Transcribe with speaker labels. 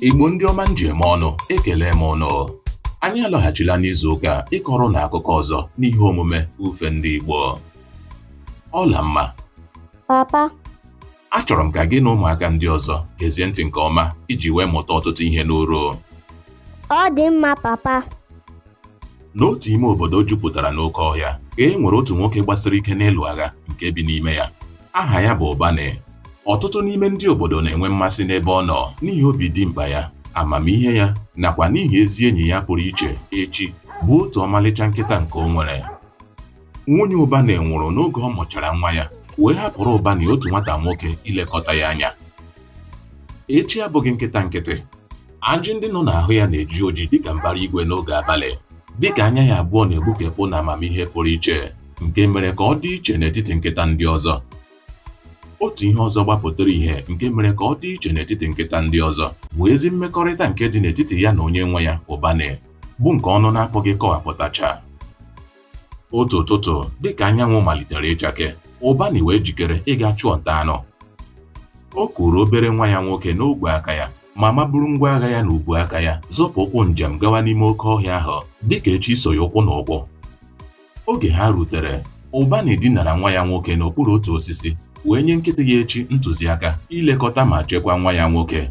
Speaker 1: Igbo ndị ọma m ji eme ọnụ ekele m unu anyị alọghachila n'izu ụka a ịkọrọ unu akụkọ ọzọ n'ihe omume ufe ndị Igbo ọlamma papa achọrọ m ka gị na ụmụaka ndị ọzọ gezie ntị nke ọma iji wee mụta ọtụtụ ihe n'uru ọ
Speaker 2: dị mma papa
Speaker 1: N'otu ime obodo jupụtara n'oke ọhịa ka e nwere otu nwoke gbasiri ike n'ịlụ agha nke bi n'ime ya. Aha ya bụ Ụbanị. Ọtụtụ n'ime ndị obodo na-enwe mmasị n'ebe ọ nọ n'ihi obi dimkpa ya, amamihe ya nakwa n'ihi ezi enyi ya pụrụ iche, Echi, bụ otu ọmalịcha nkịta nke o nwere. Nwunye Ụbanị nwụrụ n'oge ọ mụchara nwa ya wee hapụrụ Ụbanị otu nwata nwoke ilekọta ya anya. Echi abụghị nkịta nkịtị. Ajị ndị nọ n'ahụ ya na-eji oji dịka mbara igwe n'oge abalị, dịka anya ya abụọ na-egbukepụ na amamihe pụrụ iche nke mere ka ọ dị iche n'etiti nkịta ndị ọzọ. Otu ihe ọzọ gbapụtara ihe nke mere ka ọ dị iche n'etiti nkịta ndị ọzọ bụ ezi mmekọrịta nke dị n'etiti ya na onye nwe ya, Ụbanị, bụ nke ọnụ na-apụghị ịkọwapụtacha. otu ụtụtụ dịka anyanwụ malitere ịchake ụbanị wee jikere ịga chụọ nta anụ o kuru obere nwa ya nwoke n'ogwe aka ya ma maburu ngwa agha ya n'ubu aka ya zọpụ ụkwụ njem gawa n'ime oke ọhịa ahụ dịka echi so ya ụkwụ n'ụkwụ oge ha rutere ụbanị dinara nwa ya nwoke n'okpuru otu osisi wee nye nkịta ya echi ntụziaka ilekọta ma chekwaa nwa ya nwoke